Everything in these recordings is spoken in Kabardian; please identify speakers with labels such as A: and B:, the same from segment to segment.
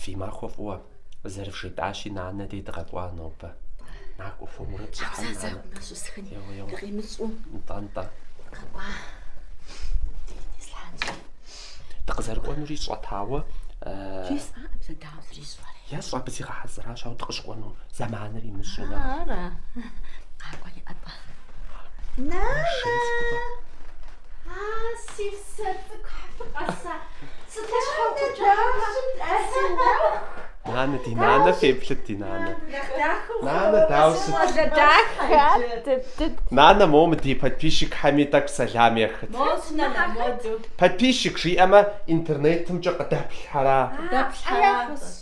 A: Фи махуэ фӏыуэ, зэрыфжетӏащи, нанэ дей дыкъэкӏуа нобэ. Накӏуэ хуэмурэ дыщӏыхьэнщ нанэ. Зэзэкъумэ щысхын. Еуэ, еуэ. Дыкъимыщӏу. Нтӏэ, нтӏэ. Къэкӏуа. Денис Ланчи. Дыкъызэрыкӏуэнури сщӏатауэ,
B: жесӏа пэтауэ зрищӏэрэ. ещӏэ
A: абы зигъэхьэзыращ, ауэ дыкъыщыкӏуэну зэманыр имыщӏэнӏа. Ара.
B: Къакӏуэ иӏэтӏэ. Нанэ! Шей цӏыкӏугъэ. Нанэ,
A: ди нанэ феплъыт, ди нанэ. Нанэ, дауэ ущыт? Нанэ, моуэ мы ди подписчикхэми тӏэкӏу сэлам ехыт. Подписчик жиӏэмэ интернетымкӏэ къыдэплъхьэра?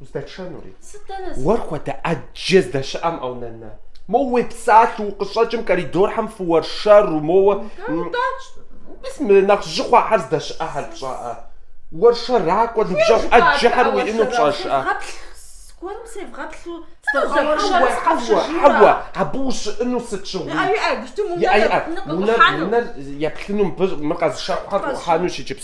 A: Уздэтшэнури? Сыт дэнэ сэ? Уэр
B: хуэдэ
A: ӏэджэ здэщыӏэм а унэм нанэ? Моуэ уепсалъэу укъыщӏэкӏым коридорхэм фыуэршэру, моуэ. Удащ. Мис мы нэхъ жьы хъуахэр здэщыӏэхэр пщӏэрэ? Уэршэракӏуэ, ныбжьэгъу ӏэджэхэр уиӏэну пщӏэжрэ? Зыгуэрым
B: севгъэплъу сыздэбгъэуэршэру
A: сыкъэпщэжыну? Хьэуэ, абы ущыӏэну сыт щыгъуи? Иӏэ, иӏэ, бжьым унэр еплъыну къыӏухьэну. Унэр еплъыну, мыр къэзыщэхухэр къыӏухьэну иджыпсту.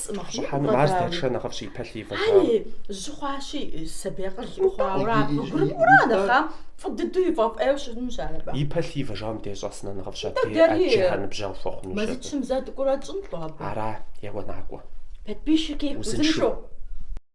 C: Щӏыхьэну ар дэтшэм
A: нэхъыфӏщ и
C: пӏалъэ ивэжам. И пӏалъэ ивэжам
A: дей щӏэсынӏа нэхъыфӏщ абдей ӏэджэхэр ныбжьэгъу хуэхъуну щӏа
C: абы. Ара, еуэ
A: накӏуэ.
C: Узыншэу.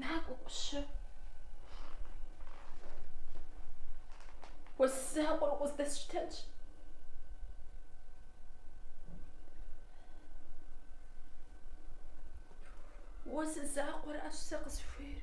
B: Накӏуэ, ӏущы. Уэ зы закъуэр укъыздэсщтэнщ. Уэ зы закъуэращ сэ къысхуейр.